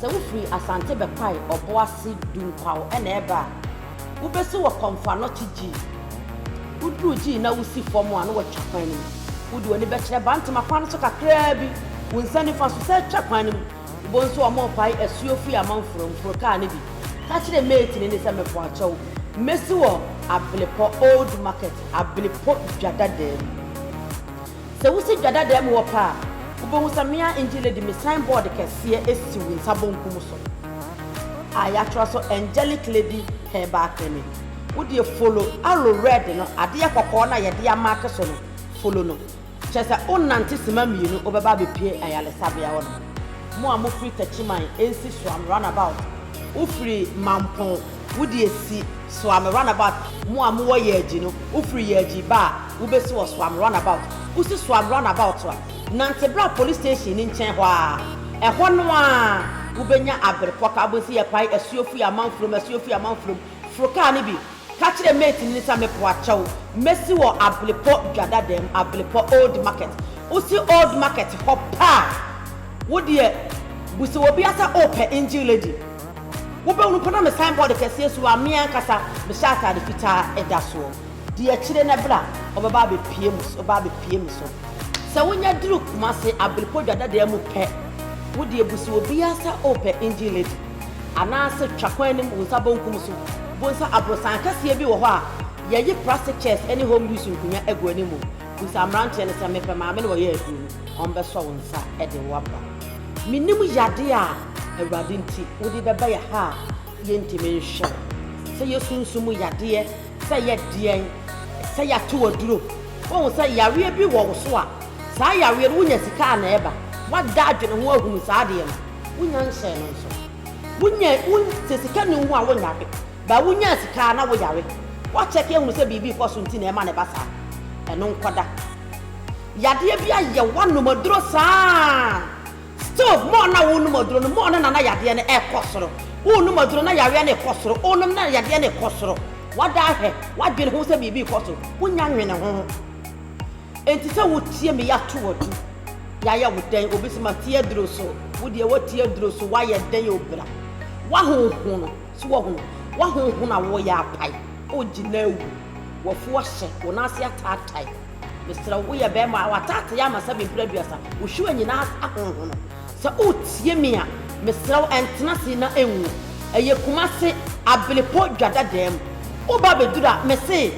Sɛ wofiri Asante bɛpae Ɔboase du nkwaw na ɛreba a, wobesi wɔ Kɔmfoanɔkye G. Woduru G na wusi fam a na wɔatwa kwan no mu. Wode w'ani bɛkyerɛ Bantama kwan no so kakraa bi, wo nsa nifa so, san twa kwan no mu. Wobɛhu nso a wɔrepae asuo firi Amanforo. Mforo kar no bi. Ka kyerɛ mate no ni sɛ, Mepakyɛw, mesi wɔ Ablepɔ Old Market, Ablepɔ Dwa Dadaa mu. Sɛ wosi dwa dada mu hɔ pɛ a, wobɛhu sɛ me ara Angel de me sign board kɛseɛ asi wo nsa bonkum so a yɛatwerɛ so Angelic Lady Herbal Clinic. Wo deɛ follow arrow red no, adeɛ kɔkɔɔ no a yɛde amake so no, follow no. Kyerɛ sɛ wonante simma mmienu, wobɛba abɛpue ayaresabea hɔ nom. Mo a mofiri Techiman, Nsi Suam, Runabout, wofiri Mampong, Wo deɛ si Soa me runabout Mo a mowɔ Yɛɛgyi no wo firi Yɛɛgyi ba a wo bɛsi wɔ Soa me runabout Wo si Soa me runabout a nante bra police station no nkyɛn hɔ ara Ɛhɔ no ara wo bɛnya Aberepɔka wo bɛhu sɛ yɛpae asuo firi Amanfurom asuo firi Amanfurom Foro kaa no bi ka kyerɛ mate no no sɛ mepoa kyɛw mɛsi wɔ Ablepɔ Dwadadam Ablepɔ Old Market Wo si Old Market hɔ pɛ a wo deɛ bu sɛ obi a sɛ wopɛ Engine Lady. Wobɛhunu mpo na me signboard kɛseɛ si hɔ a me ankasa mehyɛ ataade fitaa ɛda soɔ. Di akyire na bra wobɛba abɛpie mu wobɛba abɛpie me so. Sɛ wonya duru Kumasi Abirikɔ Dwadadaa mu pɛ, wodeɛ busi obiara sɛ wopɛ Engine Lady anaase twa kwan no mu wo nsa bonkum so bohu sɛ aborosan kɛseɛ bi wɔ hɔ a yɛyi plastic chairs ne home use nkonnwa gu anim. Bisa mmeranteɛ no sɛ mepɛ maame na wɔyɛ aduro no. ɔmbɛsɔ wo nsa de wo aba. Mennim yade a Awurade nti wode bɛba yɛ ha a yɛntimi nhwɛ wo. Sɛ yɛ sunsum mu yadeɛ, sɛ yɛ deɛn, sɛ yɛato wo aduro, woahu sɛ yareɛ bi wɔ wo so a, saa yareɛ no wonya sika a na ɛba. Woada adwene ho ahunu saa adeɛ no, wonya nhyɛɛ no nso. Wonya, wo, sɛ sika nni wo ho a wonyare, but wonyaa sika a na woyare. Woakyɛke ahunu sɛ biribi rekɔ so nti na ɛma no ba saa. Ɛno nkɔda. Yadeɛ bi ayɛ w'anom aduro saa. Stove more na wonom aduro no more no na na yadeɛ no ɛrekɔ soro. Wonom aduro na yareɛ no rekɔ soro, wonom na yadeɛ no rekɔ soro. Wada ahwɛ, wadwene ho sɛ biribi rekɔ so, wonya nwene ho. Enti sɛ wotie me yɛato wo adu, yɛayɛ wo dɛn? Obi sɛ mate aduro so, wo deɛ woate aduro so, woayɛ dɛn o bra? W'ahonhono, so woahunu? W'ahonhono a woyɛ apae, wogyina awu, w'afu ahyɛ, wo nan ase ataatae. Mesrɛ wo, woyɛ bɛrima a w'ataatee ama sɛ mprɛ aduasa, wo hwiren nyinaa ahonhono. Sɛ woretie me a, mesrɛ wo, ntena ase na nwu. Ɛyɛ Kumasi, Abelepɔ Dwadadaa mu. Woba bɛduru a, mese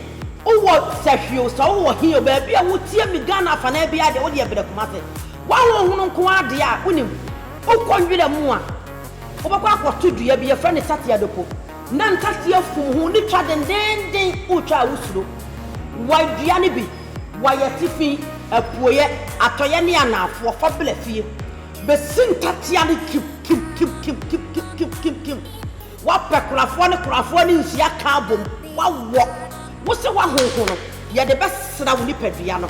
wowɔ Sahwi o, sɛ wowɔ he o, baabi a wotie me Ghana afanaa biara deɛ, wodeɛ brɛ Kumasi. W'ahonhono nko ara deɛ a, wonim. Wokɔ nwura mu a, wobɛkɔ akɔto dua bi, yɛfrɛ no Satiado po. Na nkate afum ho ne twa dendeenden wotwa a wosuro. Wɔadua no bi, wɔayɛ atifi, apueɛ, atɔeɛ ne anaafoɔ fa bla fie bɛsi nkatea no kim kim kim kim kim kim kim kim kim. Wɔapɛ korafoɔ ne korafoɔ ne nsuo aka abom, wɔawɔ. Wo sɛ woahonho no, yɛde bɛsra wo nipadua no.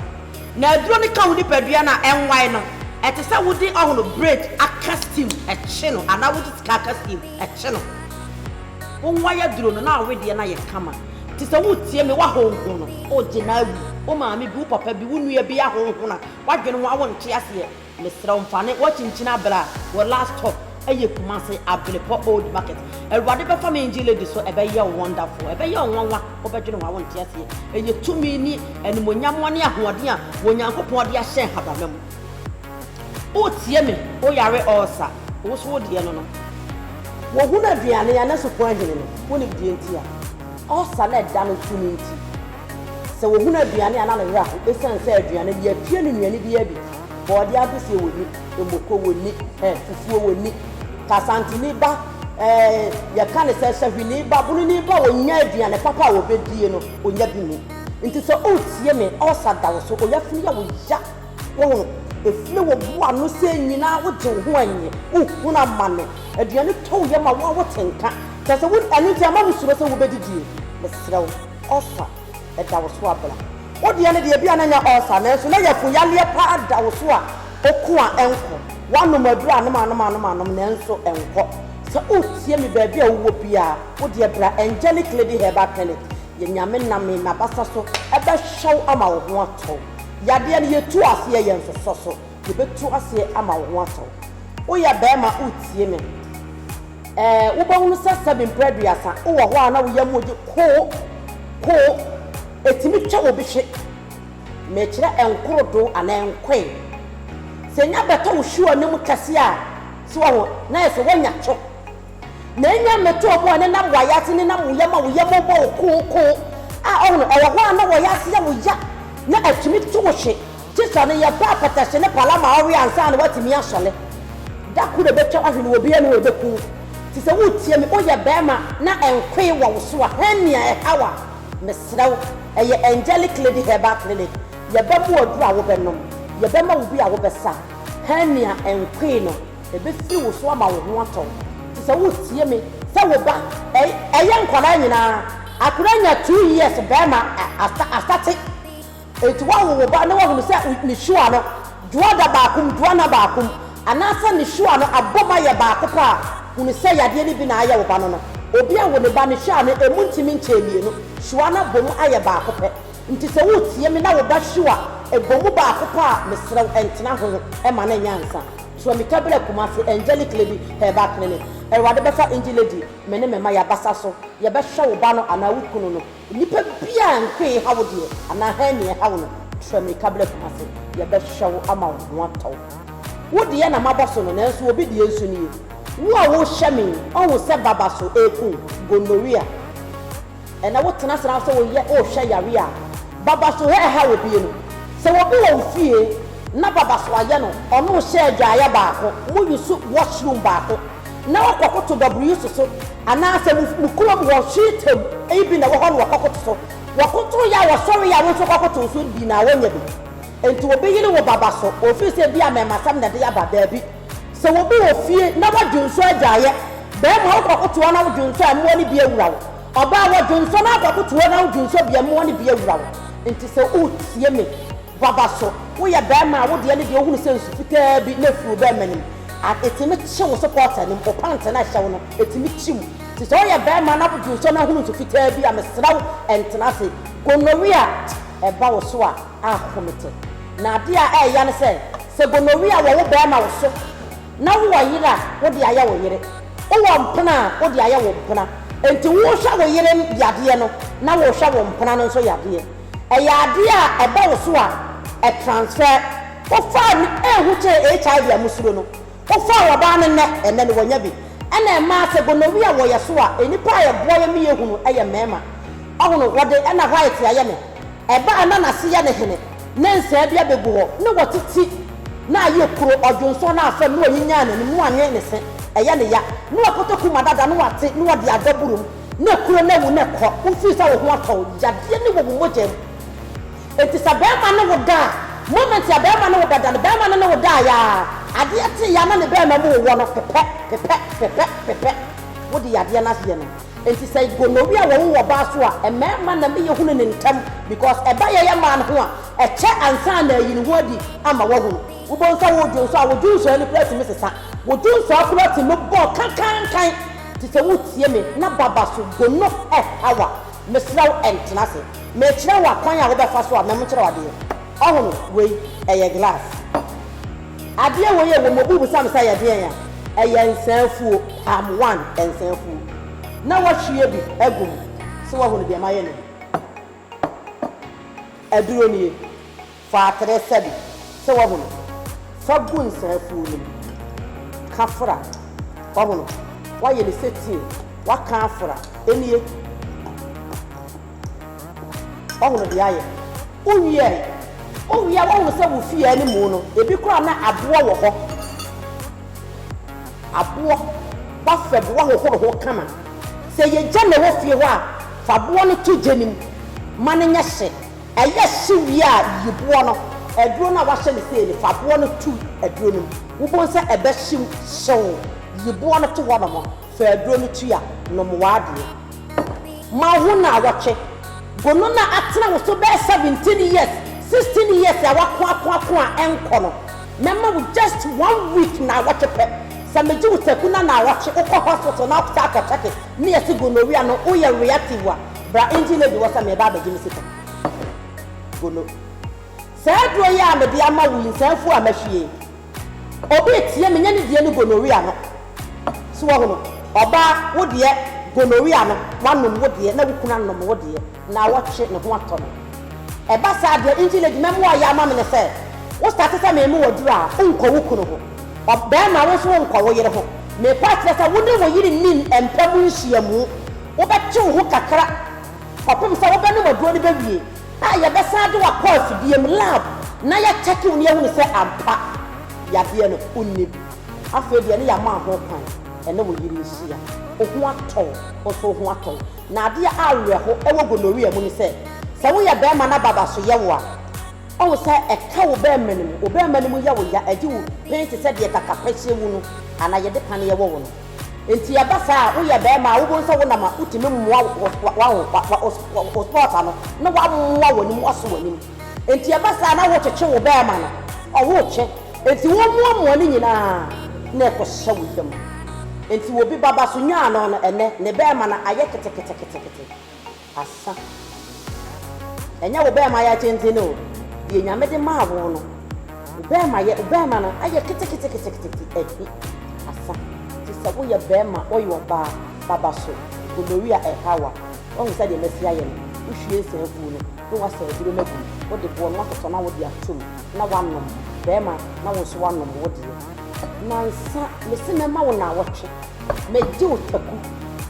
Na aduro no ka wo nipadua no a ɛnwae no, ɛte sɛ wode ɔhono, braid, aka steam kye no anaa wode sika aka steam. Ɛkye no, wo ho ayɛ duro no na awe deɛ no ayɛ kama. Te sɛ woretie me, woahonhon no, wogye no awi. Wo maame bi, wo papa bi, wo nua bi ahonhon no a, woadwene ho a wonte aseɛ. Mesrɛ wo mfa ne woakyinkyin abla wɔ last stop ɛyɛ Kumasi Ablepɔ old market. Awurade bɛfa me NG lady so ɛbɛyɛ wo wonderful. Ɛbɛyɛ wo nwanwa, wobɛdwene ho a wonte aseɛ. Ɛyɛ tumi ne animuonyam ne ahoɔden a Onyankopɔn de ahyɛ nhabama mu. Wotie me, wo yare ɔɔsa, wo so wo deɛ no no. Wɔhunu aduane a na supɔn ahini no, wonim deɛ nti a. Ɔɔsa na ɛda no so no nti, sɛ wɔhunu aduane a na ne werɛ aho ɛsiane sɛ aduane no yɛapia no nnuane biara bi, bɔɔdeɛ adoseɛ wɔnni, mmoko wɔnni, eh, fufuo wɔnni, kasantini ba, eh, yɛka no sɛ sahwini ba, bonini ba, wɔnnya aduane papa a wɔbɛdie no, ɔnya bi nni. Nti sɛ woretie me, ɔɔsa da wo so, oyafunu yɛ wo ya. Wohu? Efie wɔ bo ano sɛɛ nyinaa wogye wo ho anye, wohunu amane, aduane tɔ wo yam a wo a wote nka. Kyerɛ sɛ wo ɛno nti ama wo suro sɛ wobɛdidie. Mesrɛ wo, ulcer da wo so a bra. Wo deɛ no deɛ ebia na nyɛ ulcer nanso na yafun yareɛ paa da wo so a ɔko a ɛnkɔ. Woanom aduro anom anom anom anom nanso ɛnkɔ. Sɛ woretie me baabi a wowɔ biara, wo deɛ bra Angelic Lady Herbal Clinic. Yɛ Nyame name na basa so ɛbɛhwɛ wo ama wo ho atɔ wo. Yadeɛ no yɛtu aseɛ yɛ nsosɔ so yɛbɛtu aseɛ ama wo ho atɔ wo woyɛ bɛɛma wotie me ɛɛ wobɛhunu sɛ sɛbi mprɛ aduasa wowɔ hɔ a na wo yam gye koo koo ɛtumi twa wɔ bi hwe mekyerɛ ɛnkorodo anaa ɛnkoe sɛ nya bɛtɔ wo hwe wɔ anim kɛseɛ a so wɔ ho na yɛ sɛ woanya two na enya mmɛtɔɔ mu a ne nam wɔ ayadze ne nam wo yam a wo yam bɔ wo kookoo a ɔho no, ɔwɔ hɔ a na wɔyɛ adze a oya na atumi to wo hwe tse sa no yɛ baa patahyɛ ne pala ma ɔwe ansaana watumi asɔ ne da kor ebɛtwa ahwe no wɔ bea no ebɛku wo tse sɛ wo tsia me oyɛ bɛɛma na nkoe wɔ wo so a hɛnea ɛhaw a mesrɛ wo ɛyɛ angelic lady herbal clinic yɛbɛmo aduru a wo bɛnom yɛbɛma wo bi a wo bɛsa hɛnea nkoe no. Ebefiri wo so ama wo ho atɔ wo. Te sɛ wo tie me sɛ wo ba. Ei ɛyɛ nkwadaa nyinaa. Akwadaa nya two years bɛɛma a asate enti woawo wo ba na woahunu sɛ ne sure no dwoa da baako mu dwoa nna baako mu anaasɛ ne sure no abom ayɛ baako pɛ a hunu sɛ yadeɛ no bi na ayɛ wo ba no no obi awo ne ba ne sure no ɛmu ntimi nkyɛɛ mmienu sure no abom ayɛ baako pɛ nti sɛ wo tie me na wo ba sure ɛbɔ mu baako pɛ a meserɛ wo ntena ho ma no nyɛ ansa. Sua mi ka brɛ Kumasi angelic lady herbal clinic awurade bɛfa indie lady me ne me mma yabasa so yɛbɛhwɛ wo ba no anaa wo kunu no nipa biaa nko eha wo deɛ anaa hernia ɛha wo no sua mi ka brɛ Kumasi yɛbɛhwɛ wo ama wo ho atɔ wo wo deɛ na mabɔ so no nanso obi deɛ nso nie wo a wo hwɛ me ɔhu sɛ baba so eku gonorrhea. Ɛnna wotenatena hɔ sɛ woyɛ rehwɛ yare a babaso hɛ ɛha obi yi no. Sɛ obi wɔ wo fie na babaso ayɛ no, ɔne wo hyɛ adwaeɛ baako, moyi so wash room baako na wokɔkoto baburuyiso so, anaasɛ mo mo kurom hɔ hweetam yi bi na ɛwɔ hɔ na wɔkɔkoto so. Wɔkotoeɛ a wɔsɔreeɛ a wo nso kɔkoto so bi na woanya bi. Enti obi yere wo babaso, ɔfiri sɛ ebia amɛmasɛm na ɛde aba? Dabi. Sɛ obi wɔ fie na w'adwensɔ agyaeɛ, barima wo kɔkoto a na wo dwensɔ a mmoa no bi awura wo, ɔbaa w'adwensɔ na wokɔkoto a na wo dwensɔ bi a mmoa no bi awura wo. Enti sɛ woretie me baba so woyɛ barima a wo deɛ no deɛ wohunu sɛ nsu fitaa bi na ɛfiri wo barima anim a ɛtumi kye wo sɛ pɔɔta anim wo pant no a ɛhyɛ wo no ɛtumi kye wo ti sɛ woyɛ barima na wo dwensɔ no ahunu nsu fitaa bi a mesrɛ wo ɛntena ase gonorrhea ɛba wo so a a hom tse. Na ade a ɛreya ne sɛ, sɛ gonorrhea wɔ wo barima wo so na wowɔ yer a, wode ayɛ wo yere, wowɔ mpena a, wode ayɛ wo mpena. Enti wohwɛ wo yere yadeɛ no na wohwɛ wo mpena no nso yadeɛ. Ɛyɛ adeɛ a ɛba wo so a, ɛtransfer. Wofaa me ehu kyɛɛ HIV a mosuro no, wofaa wɔbaa no nnɛ, ɛnnɛ no wɔnya bi. Ɛna ɛmaa sɛ gonorrhea wɔ yɛ so a, nnipa a ɛboa yɛ me yɛ hunu yɛ mmarima. Ɔhono, wɔde ɛna white ayɛ me. Ɛba a na n'ase yɛ no hene, na nsaa bi abegu hɔ, na wate ti, na ayɛ kuro, ɔdwonsɔ no afam, na wanyinyan n'anim, na wanwe ne se, ɛyɛ no ya, na wakoto kuma dada, na wate, na wɔde adɔ boro mu, na kuro no awu, na ɛkɔ, wofiri sɛ wo ho atɔ wo, yadeɛ no wɔ wo mogya mu. Enti sɛ barima ne wo da a, moment a barima ne wo bɛda no, barima no ne wo daeɛ ara, adeɛ kyeeɛ ara na ne barima mu wowɔ no, pepɛ, pepɛ, pepɛ, pepɛ, wode yadeɛ no ayɛ no. Enti sɛ gonorrhea wɔ wo wɔ baa so a mmarima na me yɛ hunu no ntɛm because ɛba yɛ yɛ man ho a ɛkyɛ ansa na ayi ne ho adi ama wahunu. Wobɛhu sɛ wo dwonsɔ a wo dwonsɔ ani koraa tumi sesa. Wo dwonsɔ akoraa tumi bɔ kankankan te sɛ wo tie me na baba so gono ɛha wo a mesrɛ wo ntena ase mekyerɛ wo akwan a wobɛfa so a mɛmkyerɛ wo adeɛ. Ɔhono wei ɛyɛ glass. Adeɛ wei a wɔn bu sam sɛ ɛyɛ deɛn a, ɛyɛ nsa afuo, palm one nsa afuo na wɔahwie bi agu mu, sɛ woahunu deɛ mayɛ no yi, aduro nie, fa atere sɛ bi, sɛ woahunu, fa gu nsa afuo no mu, ka fra, woahunu, woayɛ no sɛ tea, woaka afra, nie. Ɔhunu deɛ ayɛ. Wowie ɛ. Wowie a wohunu sɛ wo fie animu no, ebi koraa na aboɔ wɔ hɔ. Aboɔ ba fɛ bo ahohoro ho kama. Sɛ ɛyɛ gya na ɛwɔ fie hɔ a, fa boɔ no to gya no mu ma no nyɛ hye. Ɛyɛ hye wie a, yi boɔ no. Aduro no a woahyɛ no sei no, fa boɔ no to aduro no mu. Wobɛhu sɛ ɛbɛhye mu hyew. Yi boɔ no to hɔnom. Fa aduro no twi a, nom w'adeɛ. Ma wo ho nnawɔtwe. Go no na atena wo so bɛyɛ seventeen years, sixteen years a wako ako ako a ɛnkɔ no. Mɛma wo just one week, nnawɔtwe pɛ. Sɛ megye wo taku na nnawɔtwe wokɔ hospital na wosan akɔ checke ne yɛse gonorrhea no woyɛ reactive a, bra engine lady hɔ sɛ mereba abɛgye me sika. Go no. Saa aduro yi a mede ama wo yi, nsa afu a mɛhwie. Obi reteɛ me nyɛ ne deɛ ne gonorrhea no so wahu no ɔbaa wo deɛ gonorrhea no wanom wo deɛ na wo kunu anom wo deɛ na awɔtwe ne ho atɔ no ɛba saa deɛ nti lady mɛmoa ayɛ ama me ne sɛ wo starte sɛ meme wo aduru a wonkɔ wo kunu ho ɔb bɛɛma wo nso wonkɔ wo yere ho mepɛ akyerɛ sɛ wone wo yere nni n mpa mu nhyiamu wobɛtwe wo ho kakra kɔpem sɛ wobɛnom aduro no bɛwie. a yɛbɛsan de wo akɔ afidie mu, lab, na yɛakyɛke wo na yɛahunu sɛ ampa yadeɛ no wonni bi. Afei deɛ ne yɛama wo ho kwan ɛne wo yere nhyia. Wo ho atɔ wo, wo nso wo ho atɔ wo. Na adeɛ a awerɛho wɔ gonorrhea mu ne sɛ, sɛ woyɛ barima na baba so yɛ wo a, woahu sɛ ɛka wo barima no mu. Wo barima no mu yɛ wo ya, ɛgye wo pee te sɛ deɛ kakapɛhyeɛ wu no anaa yɛde paneɛ wɔ wo no. Nti ɛba saa a woyɛ bɛɛma a wobohu sɛ wonam a wotumi mmoa wo spɔta no na woamoa w'anim woaso w'anim nti ɛba saa na wotwetwe wo bɛɛma no ɔwotwe nti womoamoa ne nyinaa na ɛkɔhyɛ wo yam nti obi baba so nwaano no ɛnɛ ne bɛɛma no ayɛ keteketekete. Asa. Ɛnyɛ wo bɛɛma yɛ tenten o, deɛ Nyame de maa wo no, wo bɛɛma yɛ, wo bɛɛma no ayɛ keteketekete ɛhe? Asa. Te sɛ wo yɛ bɛɛma, wo yɛ ɔbaa, baba so, gonorrhea ɛha wa, wahu sɛdeɛ masi ayɛ no, wo hwie nsa afuo no, na wasa aduro no agu mu, wo de boɔ no atotɔ na wo de ato mu, na wanom, bɛɛma, na wo nso wanom wo deɛ. Nansa, mese mɛma wo naawɔtwe. Megye wo taku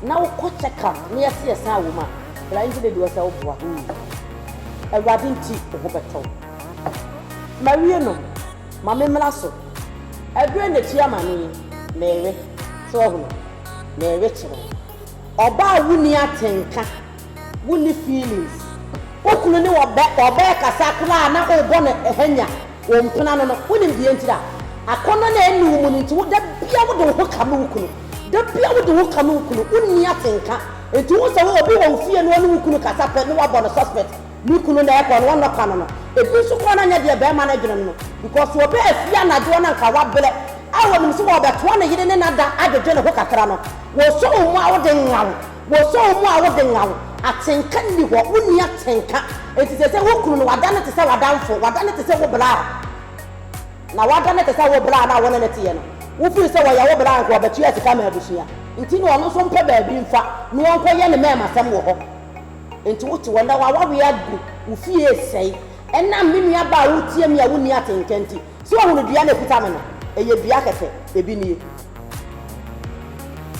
na wo kɔ check up na yɛse yɛsan wom a bra nti dede wɔsɛ wo boa hoo awurade nti wo ho bɛtɔ wo mawie no ma me mmra so ɛdurɛ na tua amane yi meewe so wahunu meewe kyerɛ wo ɔbaa woni atenka Wonni feelings. Wo kunu ne wo bɛ ɔbɛɛ kasa koraa na wobɔ no hanya wo mpena no no wonim deɛ ntiri a akɔnnɔ no ɛnni wo mu no nti wo da bia wode wo ho kame wo kunu da bia wode wo ho kame wo kunu wonni atenka nti wohu sɛ wo obi wɔ wo fie na ɔne wo kunu kasa pɛ na wabɔ no suspect me kunu na ɛkɔ no wɔnnɔ kano no ebi nso koraa na nyɛ deɛ bɛɛma no dwene no no because ɔbɛɛ afie anadwoɔ no anka wabrɛ a wɔnim sɛ wɔbɛtoa ne yere ne nada adwedwe ne ho kakra no wɔsɔ wo mu a wode nwaw Wosoo mu a wode nnga wo. Atenka nni hɔ, wonni atenka. Enti seesei wo kunu no, wada no te sɛ w'adamfo, wada no te sɛ wo braa. Na wada no te sɛ wo braa no a wo ne no teɛ no. Wofiri sɛ ɔyɛ wo braa nko a, ɔbɛtua sika ma abusua nti na ɔno nso mpɛ baabi mfa na ɔnkɔyɛ ne mɛɛmasɛm wɔ hɔ. Enti wote hɔ nnɛ, w'awareɛ agu, wo fie resɛe ɛnam me nuabaa a woretie me a wonni atenka nti. So woahunu dua no a ɛkuta me no? Ɛyɛ dua kɛkɛ. Ebi nie.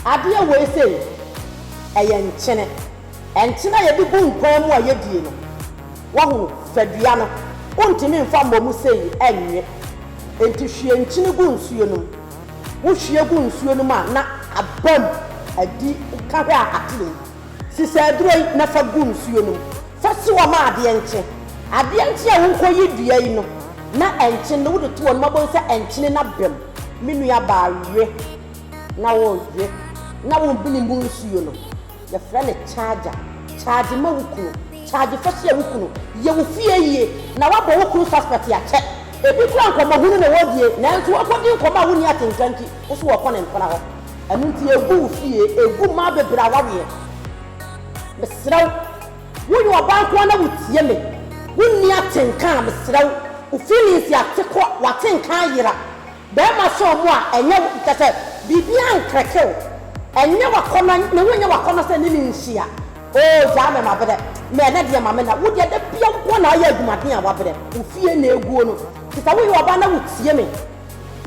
Adeɛ wei sei ɛyɛ nkyene. Ɛnkyene a yɛde gu nkwan mu a yɛdie no. Wahu, fa dua no. Wontumi mfa mmɔ mu sei ɛnwe. Enti hwie nkyene gu nsuo no mu. Wohwie gu nsuo no mu a na aba mu adi ka hwɛ a ate wei. Sisi aduro yi na fa gu nsuo no mu. Fa si hɔ ma adeɛ nkye. Adeɛ nkye a wonkɔyi dua yi no na ɛnkye no wode to hɔ no wobɛhu sɛ ɛnkyene no aba mu. Me nua baa we na wo we na wo bini mu nsuo no yɛ frɛ no charger charge ma wo kunu charge fa hyia wo kunu yɛ wo fie yie na wa bɔ wo kunu suspect akyɛ ebi kura nkɔmɔ hunu na wɔ die nanso wɔ kɔ di nkɔmɔ a wo ni atenka nti wo so wɔ kɔ ne mpena hɔ ɛno nti egu wo fie egu maa bebree a waweɛ mesrɛ wo. Woyɛ ɔbaa nkoa na wotie me Wonni atenka a mesrɛ wo Wo feelings yɛ ateko a w'atenka ayera Bɛɛma sɛ ɔmo a ɛnyɛ wo Kyɛ sɛ biribiaa nkrɛke wo Ɛnyɛ w'akɔnɔ ne wonyɛ w'akɔnɔ sɛ ne ne nhyia Oh gyaa me mabrɛ me ɛnɛ deɛ ma me na Wo deɛ da biaa wo nkoa na ayɛ adumaden a wabrɛ Wo fie na eguo no Kyɛ sɛ woyɛ ɔbaa na wotie me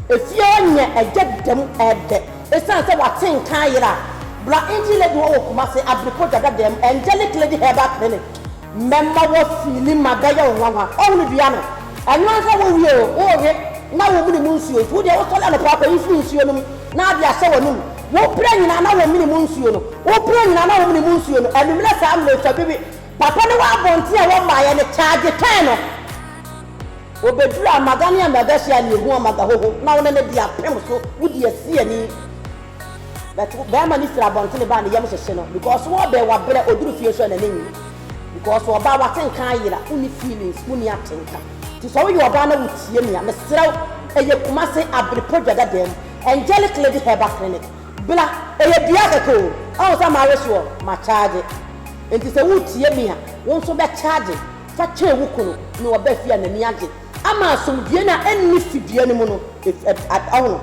Efie hɔ nea ɛgya da mu ɛɛdɛ. Esiane sɛ w'ate nka ayera a, bra Indie Lady hɔ wɔ Kumasi, Abirikɔ Dwada dan mu, Angelic Lady Herbal Clinic. Mɛma wo feeli ma bɛyɛ wo nwanwa. Wahu no dua no? Ɛno ara sɛ wowie o, worewe na womene mu nsuo nti, wo deɛ wosɔre anɔpa a kɔyi firi nsuo no mu na wode ahyɛ w'anum. Wopira nyinaa na womene mu nsuo no, wopira nyinaa na womene mu nsuo no, anwummerɛ saa mmerɛ twa bi we. Papa ne w'abɔnten a wɔmmaeɛ no, charge kɛn no. Wobedura amaga ne amagahyɛ a nea ho amaga hɔ ho na wonam adi apem so wodi asiani but bɛɛma no firi abɔntene ba a ne yam hyehye no because wɔbɛn wabrɛ oduru fie nso a nani nye because ɔbaa wate nka ayera wonni feelings wonni atenka nti sɛ woyɛ ɔbaa na wotie me a mesrɛ wo ɛyɛ Kumase Abrepɔ Dwadada mu Angelic Lady Herbal Clinic bla ɛyɛ dua kɛkɛ o ahu sɛ mawe soɔ ma charge nti sɛ wotie me a wo nso bɛ charge fa kyɛɛ wo kunu ne wo ba fie a n'ani agye ama asomdwoeɛ no a ɛnni fidua no mu no ahono.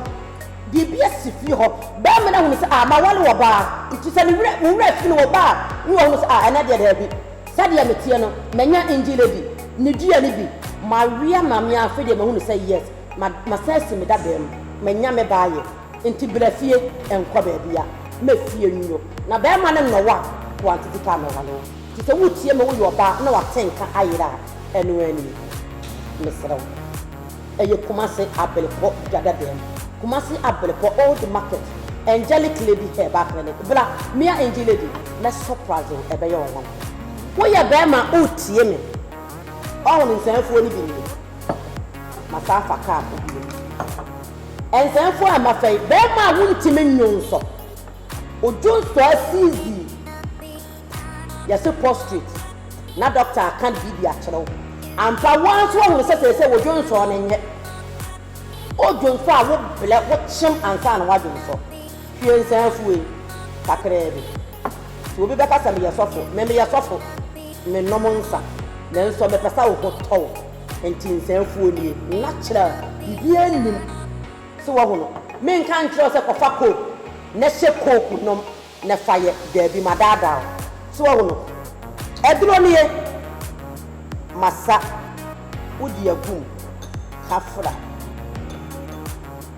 Biribi asi fie hɔ, barima no ahunu sɛ a maware ɔbaa nti sɛ me werɛ me werɛ fi no wɔ ba a ne wahunu sɛ a ɛnɛ deɛ daabi sɛdeɛ meteɛ no manya Indie Lady ne dua no bi, mawea ma me a afei deɛ mahunu sɛ yes ma masan asi me dadaam manya me ba ayɛ. Nti bra fie nkɔ baabia ma fie nyo na bɛɛma no nnɔ wo a kɔ aunty Vita amɛwa no nti sɛ wotie me woyɛ ɔbaa na wate nka ayera a ɛno ara nie mesrɛ wo ɛyɛ Kumasi Abelpɔ dada dan mu Kumasi Abelpɔ old market Angelic lady herbal clinic bra mea Angie lady mɛ surprise wo ɛbɛyɛ wo nwanwa. Woyɛ bɛɛma a wotie me ɔho no nsɛmfuo no bi nie masan afa car kɔ bio. Ɛnsɛmfo a mafɛe. Bɛɛma a wontimi nnwo nsɔ. Odwo nsɔ asiizii. Yɛse prostrate na dɔkta aka biribi de akyerɛ wo. Ampa, wo ara nso woahunu sɛ seesei wodwo nsɔ no nyɛ. Odwo nsɔ a wobrɛ, wokyem ansa na woadwo nsɔ. Hwie nsa afu ei, kakraa bi. Sɛ obi bɛka sɛ meyɛ sɔfo, me meyɛ sɔfo, menom nsa, nanso mepɛ sɛ wo ho tɔ wo. Enti nsɛmfua nie. Natural, biribiara nnim sɛ woahu no. Menka nkyerɛ wo sɛ kɔfa coke na hyɛ coke nom na fa yɛ, daabi, madaadaa wo. So woahu no? Aduro nie. Masa, wode agu mu, ka fra.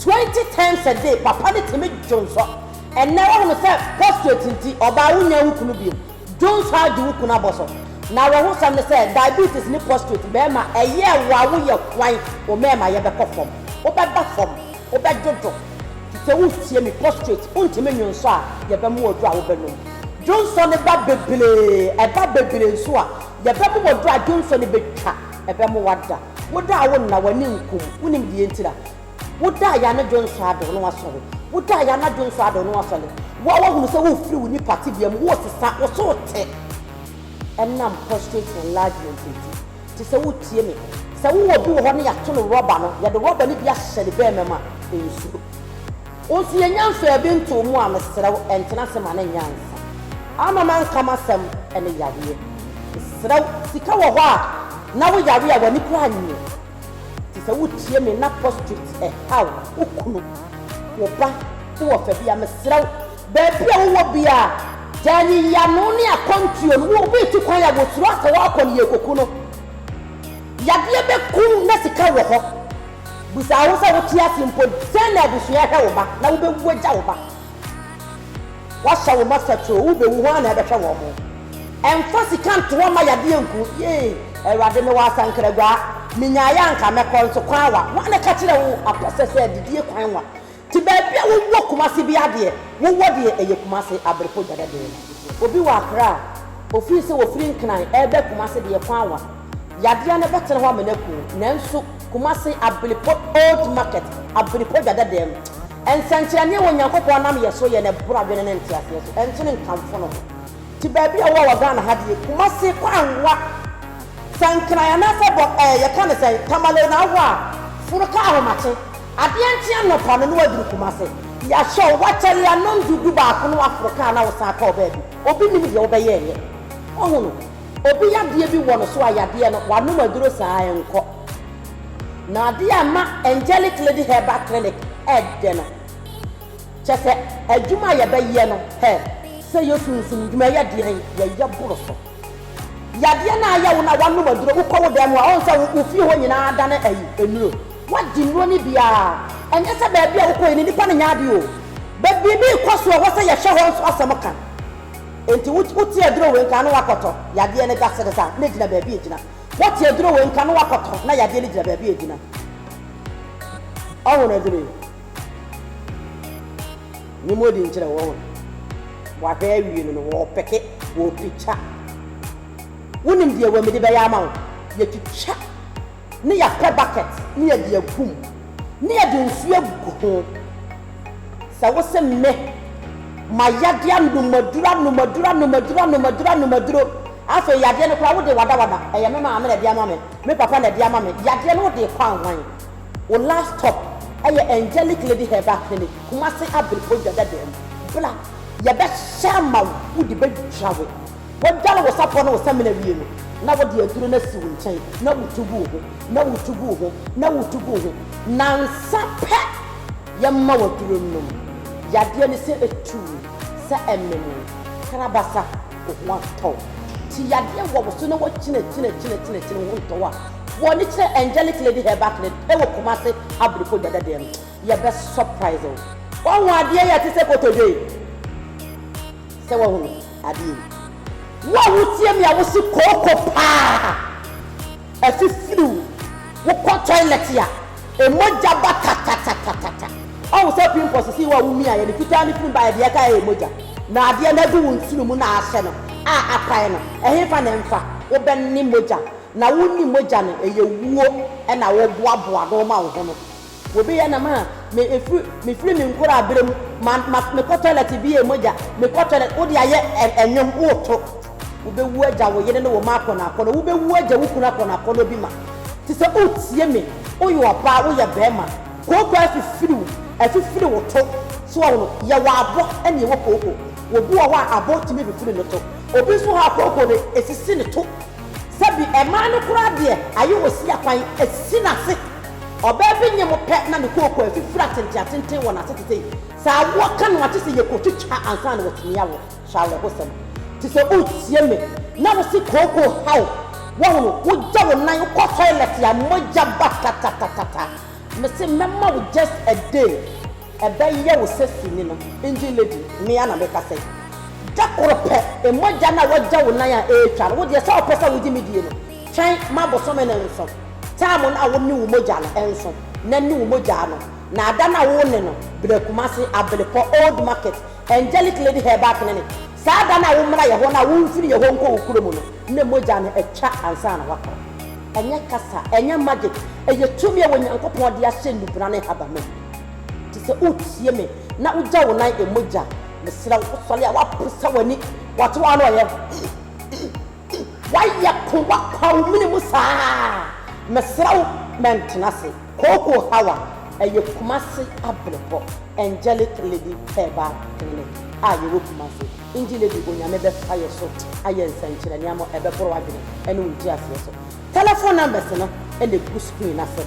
Twenty times a day papa no tumi dwo nsɔ ɛnɛ wahunu sɛ prostate nti ɔbaa wonnya wo kunu biom dwo nsɔ ara di wo kunu abɔsɔ na awerɛho sɛm ne sɛ diabetes ne prostate bɛɛma ɛyɛ wa wo yɛ hwan wo mɛɛma yɛ bɛkɔ fam wo bɛ ba fam wo bɛ dwo dwo te sɛ wo ntie me prostate wo ntumi nwo nsɔ a yɛ bɛ mo wɔ dwo a wo bɛ nom dwo nsɔ no ba bebree ɛba bebree nso a yɛ bɛ mo wɔ dwo a dwo nsɔ no bɛ twa. Ɛbɛmo wada. Wo da a wo nna w'ani nku mu. Wo nim deɛ ntira? Wo da a y'anadwo nsɔ ado na w'asɔre. Wo da a y'anadwo nsɔ ado na w'asɔre. Wo a w'ahunu sɛ wo firi wo nipa tebea mu, wo sesa, wo so te. Ɛnam prostate enlargement nti. Te sɛ wo tie me. Sɛ wo wɔ obi wɔ hɔ na y'ato no rɔba no, y'ɛde rɔba no bi ahyɛ ne bɛɛma mu a, nsuro. Wo nso yɛ nyansaa bi nto mu a mesrɛ wo ɛntena ase ma ne nyansa ama manka m'asɛm ɛne yareɛ mesrɛ wo sika wɔ hɔ a na wo yare a w'ani koraa nyɛ te sɛ wo tie me na postrate ɛhaw wo kunu wo ba wo ɔfa bi a mesrɛ wo baabi a wo wɔ bia a gyaa nyiyano ne akwantuo no wo obi retu kwan a wosuro asɛ woakɔ no yɛ koku no yadeɛ bɛku wo na sika wɔ hɔ. Bisa wo sɛ wote ase mpo sɛn na abusua hwɛ wo ba na wobɛwu agya wo ba. Woahyɛ wo mma sakyoo, wobɛwu hwan na ɛbɛhwɛ wɔn mo? Ɛmfa sika ntoɔ mma yadeɛ nku. Yei Awurade mewɔ asankragwaa, menyaeɛ a anka mɛkɔ nso kwan wa, wan na ɛka kyerɛ wo apɛsɛ sɛ adidie kwan wa? Te baabi a wo wɔ Kumasi biaa deɛ wo wɔ deɛ ɛyɛ Kumasi Abrepɔ Dwada dɛɛ no. Obi wɔ Accra a ofii sɛ ofiri Nkran ɛɛbɛ Kumasi deɛ kwan wa yadeɛ no bɛtena hɔ ama no aku wo nanso Kumasi Abrepɔ Old Market Abrepɔ Dwada dɛɛ no nsɛnkyerɛnneɛ wɔ Nyankopɔn nam yɛ so yɛ na ɛboro adwene ne nteaseɛ so ɛnso ne nkamfo no ho. Te baabi a wo wɔ wɔ Ghana ha deɛ Kumasi kwan wa sɛ Nkran anaasɛ bɔ ɛɛ yɛka no sɛn Tamale na wo wɔ a foro ka Ahomakye. Adeɛ nkye anɔpa no na waduru Kumase. Yɛahyɛ wo w'akyɛdeɛ anɔnzu du baako na waforo kaa na wosan kɔɔ baabi. Obi nim deɛ wobɛyɛ nyɛ. Wahu no. Obi yadeɛ bi wɔ no so a yadeɛ no, wanom aduro saa a ɛnkɔ. Na adeɛ a ɛma Angelic Lady Herbal Clinic ɛdɛ no, kyerɛ sɛ adwuma a yɛbɛyɛ no, hɛ, sɛ yɛsunsum dwuma, ɛyɛ deɛn, yɛyɛ boro so. Yadeɛ no ayɛ wo no a woanom aduro, wokɔ wo dan mu a woahu sɛ wo fie hɔ nyinaa adane ayi, nnuro. Woadi nnuro no bi ara. Ɛnyɛ sɛ baabi a wokɔeɛ no nnipa no nyɛ adeɛ o. But biribi rekɔ so a ɛwɔ sɛ yɛhwɛ hɔ nso asɛm ka. Enti wote aduro wei nka a na woakɔtɔ, yadeɛ no gya sere saa, na ɛgyina baabi a ɛgyina. Wote aduro wei nka na woakɔtɔ, na yadeɛ no gyina baabi a ɛgyina. Ɔho no aduro yi. Ne mu odi nkyerɛ wɔn a wɔahwɛ awie no no, wɔpeke, wɔpikya. Wonim deɛ wɔmede bɛyɛ ama wo? Yɛtwitwa ne yɛapɛ bakɛt ne yɛde agu mu ne yɛde nsuo agu ho. Sɛ wose me, ma yadeɛ anomaduro, anomaduro, anomaduro, anomaduro, anomaduro, afei yadeɛ no koraa wode wadawada, ɛyɛ me maame na ɛde ama me, me papa na ɛde ama me, yadeɛ no wode rekɔ anwan? Wo last stop ɛyɛ Angelic Lady Herbal Clinic, Kumasi Abirifo Dwadadam. Bra, yɛbɛhyehyɛ ama wo, wode bɛdwa wo. Wodware wo sapɔ ne wo samina wie no, na wode aduro no asi wo nkyɛn na wutu gu wo ho, na wutu gu wo ho, na wutu gu wo ho. Nnansa pɛ, yɛma wo aduro no nom. Yadeɛ no sɛ ɛtu wo, sɛ ɛmem wo, krabasa, wo ho atɔ wo. Ti yadeɛ wɔ wo so na woakyinakyin akyinakyin akyini wo ho ntɔ wo a, Wɔ ani kyerɛ angelic lady herbal clinic ɛwɔ kumase abrifo dwada deɛ no yɛbɛ surprise wo. Wahu adeɛ yi a ɛte sɛ kotodwe yi? Sɛ wahunu adeɛ yi. Wo a wotie me a wose kooko paa afifiri wo, wokɔ toilet a ɛmogya ba tatatatatata, wahu sɛ pimpɔ sesei wo a womiaeɛ no fitaa no firi baeɛ deɛ ɛkaeɛ yɛ mogya, na adeɛ no agu wo nsunu mu na ahyɛ no a apae no ɛhefa na ɛmfa, wobɛne mogya. Na wo nni mogya no ɛyɛ wuo ɛna wo boa boa no ma wo ho no wo beyɛ na ma me ɛfiri me firi me nkoraa berɛ mu ma ma me kɔ toilet ɛbeyɛ mogya me kɔ toilet wo de ayɛ ɛ ɛnwom wo to wo bɛ wu agya wo yere ne wo ma akɔnɔ akɔnɔ wo bɛ wu agya wo kunu akɔnɔ akɔnɔ bi ma te sɛ wo tie me wo yɛ ɔbaa wo yɛ bɛɛma kooko afifiri wo afifiri wo to so wɔ hono yɛ wɔ abɔ ɛna ɛwɔ kooko obi wɔ hɔ a abɔ tumi fifiri no to obi nso wɔ hɔ a kooko no ɛsisi no to. Sɛ bi ɛmaa no koraa deɛ aye wɔ sia kwan asi n'ase. Ɔbaa bi nyɛ mo pɛ na ne kooko afifiri atenten atenten wɔ n'ase te sɛ yi. Sɛ awoɔ ka no a kyesɛ yɛkɔ twitwa ansa na watumi awo. Hwɛ awerɛhosɛm. Te sɛ woretie me na wose kooko ha wo. Woahunu, wogya wo nan wokɔ toilet a mogya ba tatatatata. Mese mɛma wo just a day. Ɛbɛyɛ wo sɛ sini no, engine lady, me ara na mekasa yi. Da koro pɛ, mogya no a woagya wo nan a ɛretwa no, wo deɛ sɛ wopɛ sɛ wogye me die no, twɛn ma bosome no nso. Time no a wo ne wo mogya no nso, na ne wo mogya ano, na ada no a wo ne no bra Kumasi, Abelepɔ, Old Market, Angelic Lady Herbal Clinic, saa da no a wommra yɛhɔ no a womfiri yɛhɔ nkɔ wo kuro mu no, na mogya no atwa ansa na woakɔ. Ɛnyɛ kasa, ɛnyɛ magic, ɛyɛ tumi a Onyankopɔn de ahyɛ nnubena ne nhabamma mu. Te sɛ woretie me na wogya wo nan mmɔ gya. Mesrɛ wo, wosɔre a woaposa w'ani. Wɔte wo ano ɔyɛ. Woayɛ ko, woapaw wo mene mu saa. Mesrɛ wo, mɛntena ase. Kookoo Hawa, ɛyɛ Kumasi Abrepɔ Angelic Lady Herbal Clinic a yɛwɔ Kumasi. Indie Lady, Onyame bɛfa yɛn so ayɛ nsɛnkyerɛnne ama wo, ɛbɛboro w'adwene ne wo nteaseɛ so. Telephone numbers no na egu screen no ase.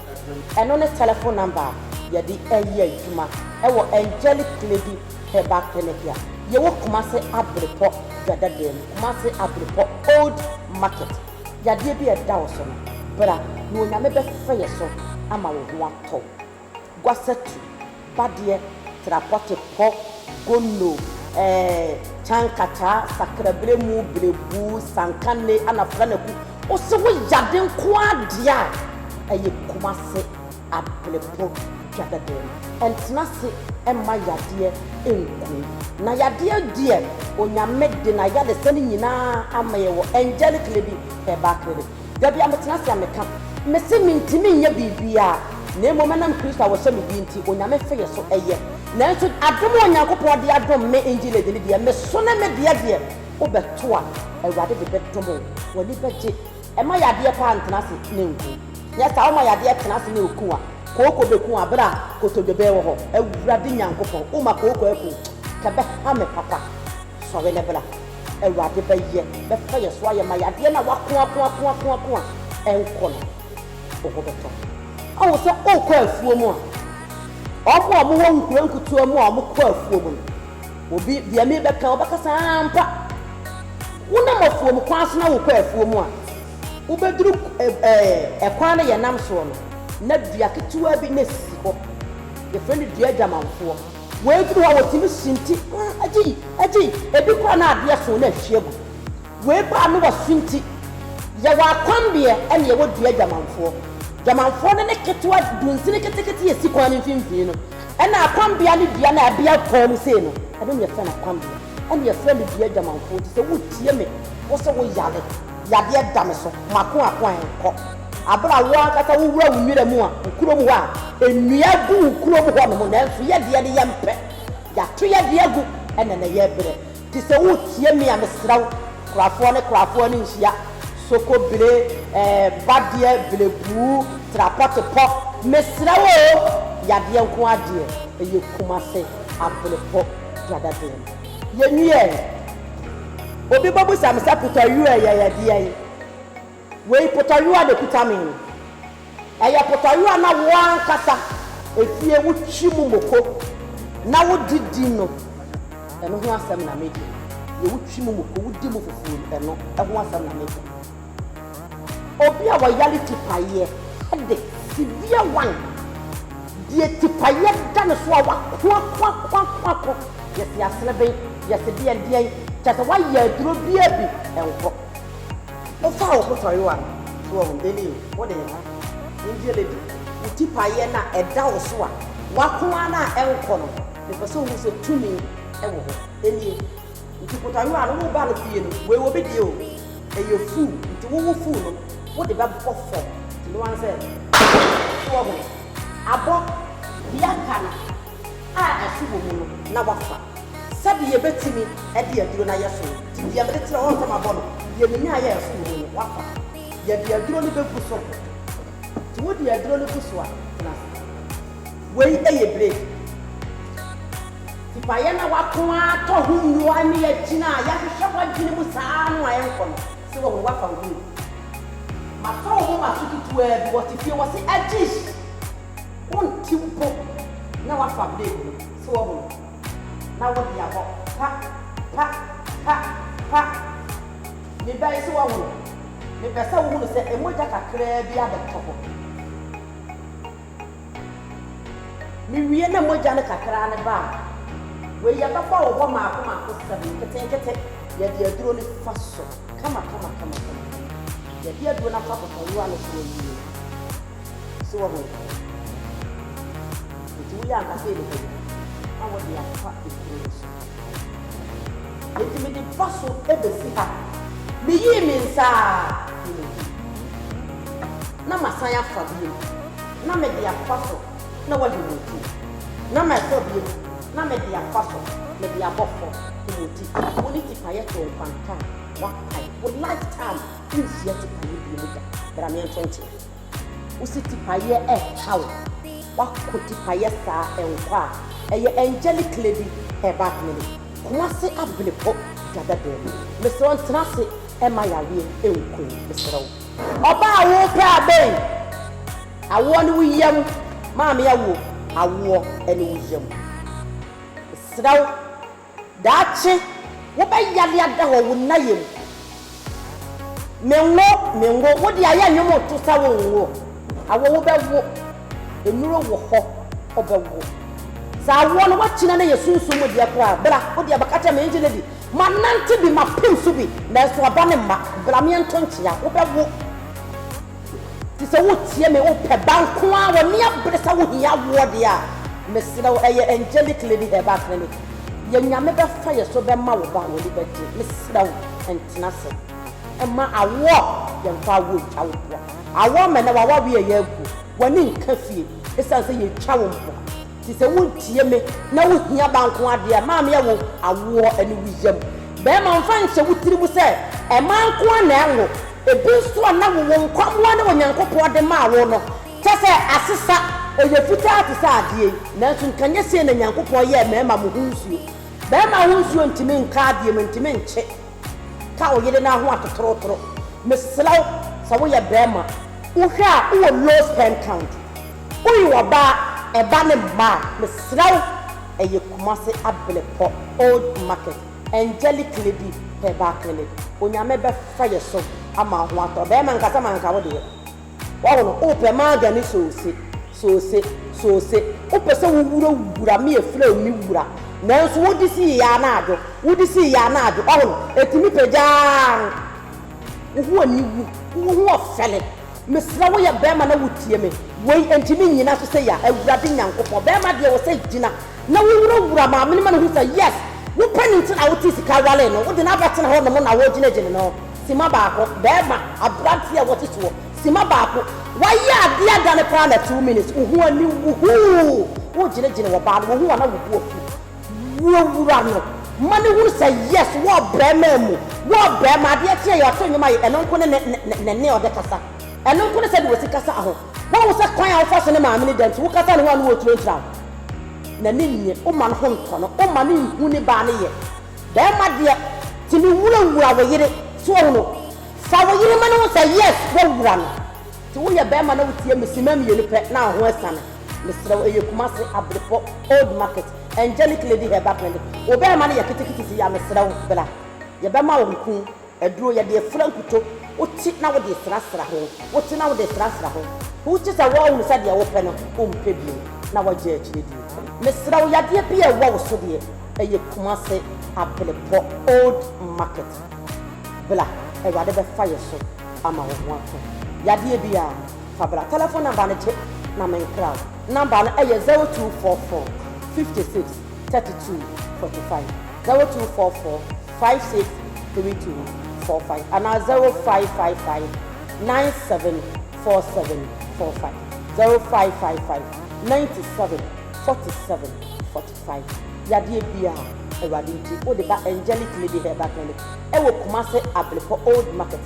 Ɛno ne telefon namba a yɛde yɛ adwuma wɔ Angelic Lady Herbal Clinic a yɛwɔ Kumase Abirepɔ Dwadadaa mu, Kumase Abirepɔ Old Market. Yadeɛ bi a ɛda wo so no, bra na Onyame bɛfa yɛ so ama wo ho atɔ wo. Gwasatu. Badeɛ, trapɔte, pɔ, gonno, ɛɛ, kyankataa, sakraberɛmu, berebu, sankanne, ana franaku. Ose wo yade nko ara deɛ a, ɛyɛ Kumase Aberepo dwa dɛdɛɛ no. Ɛntena ase mma yadeɛ nku wo. Na yadeɛ deɛ Onyame de n'ayaresa no nyinaa ama yɛn wɔ Angelic Lady Herbal Clinic. Da biara metena ase a meka, mese mentumi nyɛ biribiara, na mmom ɛnam Kristo a ɔhyɛ me din nti, Onyame fe yɛ so yɛ. Nanso adom a Onyankopɔn de adom me Engiled no deɛ, meso ne me deɛ deɛ wobɛto a, Awurade de bɛdom wo, w'ani bɛgye. Ɛma yadeɛ paa ntena ase na ɛnku. Nyɛ saa, woma yadeɛ tena ase na ɛku a, kooko bɛku wo aberɛ a kotodwe bɛwɔ hɔ. Awurade Nyankopɔn, woma kooko aku, kɛbɛha me papa. Sɔre na bra, Awurade bɛyɛ, bɛfa yɛn so ayɛ ma yɛn, adeɛ no a w'ako ako ako ako ako a ɛnkɔ no, wo ho bɛtɔ. Woahu sɛ wokɔ afuo mu a, wɔn a wɔwɔ nkuro nkutewa mu a wɔkɔ afuo mu no, obi, deɛ merebɛka, wobɛka sɛ ampa, wonam afuo mu kwan so na wokɔ afuo mu a, wobɛduru ɛɛ, kwan no yɛnam soɔ no, na dua ketewa bi na ɛsisi hɔ, yɛfrɛ no dua adwamanfoɔ. Wei duru hɔ a wɔtumi sunti, mm, agyii, agyii, ebi koraa na adeɛ soo na ahwie agu. Wei ba a na wɔasunti. Yɛwɔ akwanbeɛ ɛne yɛwɔ dua adwamanfoɔ. Dwamanfoɔ no ne ketewa dunsini ketekete a ɛsi kwan no mfimfini no, ɛna akwanbeɛ ne dua no a ɛbea kwan mu sei no, ɛno na yɛfrɛ no akwanbeɛ, ɛna yɛfrɛ no dua adwamanfoɔ nti sɛ wotie me, wo se wo yare, yadeɛ da me so, mako ako a ɛnkɔ. Bere a wo ankasa wowura wo nwura mu a, wo kurom hɔ a, nnua gu wo kurom hɔnom, nanso yɛn deɛ no yɛmpɛ. Yɛato yɛn deɛ agu, ɛnna na yɛrebrɛ. Te sɛ woretie me a, mesrɛ wo, korafoɔ ne korafoɔ ani nhyia. Sokobire, eh, badeɛ, birebuu, trapɔtepɔ, mesrɛ wo oo, yadeɛ nko ara deɛ, ɛyɛ Kumase Abrepɔ Dwadadwene mu. Yɛnwiee. Obi bɛbisa me sɛ, Kutɔyuɛ yɛ yɛ deɛn? Wei potayowa na ɛkuta me yi. Ɛyɛ potayowa na wo ankasa efie wotwi mu moko na wode di no. Ɛno ho asɛm na meka yi. Deɛ wotwi mu moko, wodi mu fufuo no, ɛno ho asɛm na meka yi. Obi a wayare tipayeɛ, headache, severe one, deɛ tipayeɛ da no so a wako ako ako ako ako, yɛse asereben, yɛse deɛn deɛn, kyerɛ sɛ wayɛ aduro biara bi, ɛnkɔ. Wo fa wo potoayowa no so ahu dɛn o? Wo de ha, Indian lady, wo ti paeɛ no a ɛda wo so a wako ara no a ɛnkɔ no, mepɛ sɛ wohu sɛ tumi wɔ hɔ. Ɛnie. Nti potoayowa no, wo ba no fie no, wei obi deɛ o, ɛyɛ fuu, nti wo wo fuu no, wo de bɛbɔ fam, nti ne wa ne sɛ, so wahu no? Abɔ. Deɛ aka no. a asu wɔ mu no na wafa. Sɛdeɛ yɛbɛtumi de aduro no ayɛ so no, deɛ mede kyerɛ wɔn sɛ mabɔ no, deɛ menya ayɛ a asu wɔ mu no, wafa. Yɛde aduro no bɛgu so. Nti wode aduro no gu so a, tena ase. Wei yɛ break. Tipaeɛ na wako ara tɔ ho nnuro a ɛne yɛagyina a yɛahwehwɛ w'adwene mu saa ara no a ɛnkɔ no. Sɛ wahu wafa wo bio. Mafa wo moma so ketewaa bi, wɔte fie, wɔse, Ajish! Wonte mpo na woafa blade no so wahu no na wode abɔ pa pa pa pa ne ba yi so wahu no. Mepɛ sɛ wohunu sɛ mogya kakraa bi abɛtɔ hɔ. Mewie na mogya no kakra no ba a, wei yɛbɛbɔ wo hɔ maako maako seven nketenkete. Yɛde aduro no fa so kama kama kama kama kama. Yɛde aduro no afa bɔtɔwewa no so awie. So woahu no? Enti woyɛ ankasa yɛ nipa bi na wode afa ekuru no so. Enti mede ba so besi ha. Miyii me nsa ara fii ne nkyɛn, na masan afa bio, na mede afa so na wahim wo ti, na mafa bio, na mede afa so, mede abɔ fam, him wo ti. Wo ne tipaeɛ too nkwanta a, woakae. Wo lifetime, worenhyia tipaeɛ bio da. Bra meɛnto nkyea. Wo se tipayɛ ɛha wo. Wako tipayɛ saa ɛnkɔ a ɛyɛ angelic lady hair back no ni. Kumase abene po dada dam. Mesrɛ wo ntena ase ɛma yareɛ ɛnku wo mesrɛ wo. Ɔbaa a wo pɛ abɛn. Awoɔ ne wo yam maame awo awoɔ ɛne wo yam. Mesrɛ wo. Daakye wobɛyare ada wɔ wo nna yam. Menwo, menwo, wo deɛ ayɛ nnwom reto sa wonwo. Awo wobɛwo, nnuro wɔ hɔ wobɛwo. Sɛ awoɔ no woakyina no yɛ sunsum mu deɛ koraa, bra, wo deɛ bɛka kyerɛ me ngye no bi. Manante bi, mapem so bi, nanso aba no mma. Bra meɛnto nkyea, wobɛwo. Te sɛ wotie me, wopɛ ba nko ara, wɔ nea bere sɛ wohia awoɔ deɛ a, mesrɛ wo, ɛyɛ Angelic Lady Herbal Clinic. Yɛ Nyame bɛfa yɛ so bɛma wo ba a w'ani bɛgye. Mesrɛ wo, ntena ase mma awoɔ, yɛmfa awoɔ ntwa wo mpoa. Awoɔ ma ɛnnɛ w'awareɛ reyɛ agu, w'ani nka fie, ɛsiane sɛ yɛtwa wo mpoa. Te sɛ wontie me na wohia ba nko ara deɛ a, maame a wo awoɔ ne wo yam. Barima mfa nhyɛ wo tiri mu sɛ mmaa nko ara na ɛnwo. Ebi nso a na wowo nkwammoa na Onyankopɔn de maa wo no, kyɛ sɛ asesa, ɛyɛ fitaa te sɛ adeɛ yi. Nanso nka nyɛ sei na Nyankopɔn yɛɛ mmarima mo ho nsuo. Barima ho nsuo ntumi nka adeɛ mu, ɛntumi nkye. Ka wo yere no aho atotorotoro. Mesrɛ wo, sɛ woyɛ barima, wohwɛ a wowɔ low sperm count. Woye ɔbaa, ɛba ne mma a, mesrɛ wo, ɛyɛ Kumasi Abilepɔ, Old Market, Angelic Lady Herbal Clinic. Onyame bɛfa yɛ so ama wo ho atɔ. Barima, nkasa ma nka wo deɛ. Wahu no, wopɛ maga ne soose, soose, soose, wopɛ sɛ wowura wura me afiri a me wura, nanso wode si yɛ anadwo, wode si yɛ anadwo, wahu no, ɛtumi pagya ara no, wo ho aniwu, wo ho ɔfɛle, mesrɛ wo yɛ barima na wotie me, wei nti me nyina so sei a, Awurade Nyankopɔn, barima deɛ wɔ sɛ gyina na wowura wura maame no ma no hu sɛ yes, wopɛ no nti na wotee sika waree no, wode no abɛtena hɔ nom na wogyinagyina no. Simma baako, bɛɛma, abranteɛ a wɔtete hɔ, simma baako, wayɛ adeɛ adane paa na two minutes wo ho ani wu huu, wo gyene gyene wɔ baa no wohu a na wo bo afu, wo wura no ma no hunu sɛ yes wɔ bɛɛma mu, wɔ bɛɛma, adeɛ kye a yɛ ɔto nnwom aye, ɛno nko ne ne ne ne ne ɔde kasa, ɛno nko ne sɛde wɔsi kasa aho, wahu sɛ kwan a wo fa so ne maame no da nti wo kasa ne ho a ne wɔ turo ntra wo, n'ani nnye, wo ma no ho ntɔ no, wo ma no nhu ne baa no yɛ, Bɛɛma deɛ tumi wura wura wo yere so wahu no fa wo yere ma no hu sɛ yes wa wura no te wo yɛ bɛɛma na wo tie me sima mienu pɛ na ho asane mesrɛ wo ɛyɛ kumase abrepɔ old market angelic lady herbal clinic wo bɛɛma no yɛ kete kete si ya mesrɛ wo bra yɛ bɛma wo nkuu. Aduro yɛde afura nkuto. Wote na wode srasra ho, wote na wode srasra ho. Wogye sɛ wɔahunu sɛ deɛ wopɛ no wompɛ bio na wɔagyae akyire die. Mesrɛ wo, yadeɛ bi a ɛwɔ wo so deɛ, ɛyɛ Kumase Abelepɔ Old Market. Bla, Awurade bɛfa yɛ so ama wo ho atɔ. Yadeɛ biara, fa bla. Tɛlɛfon namba no gye na menkra wo. Namba no yɛ zero two four four fifty six thirty two forty five, zero two four four. five six three two four five anaa zero five five five nine seven four seven four five zero five five five ninety seven forty seven forty five yadeɛ biara awurade nti wode ba angelic lady herbal clinic ɛwɔ kumase ablepɔ old market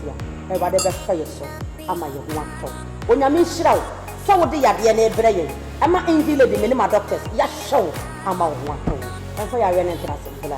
a awurade bɛfa yɛ so ama yɛ ho atɔ onyame nhyira wo sɛ wode yadeɛ no brɛ yɛn ɛma angel lady me ne ma doctors yɛahwɛ wo ama wo ho atɔ wo ɛmfa yareɛ no ntra se bra.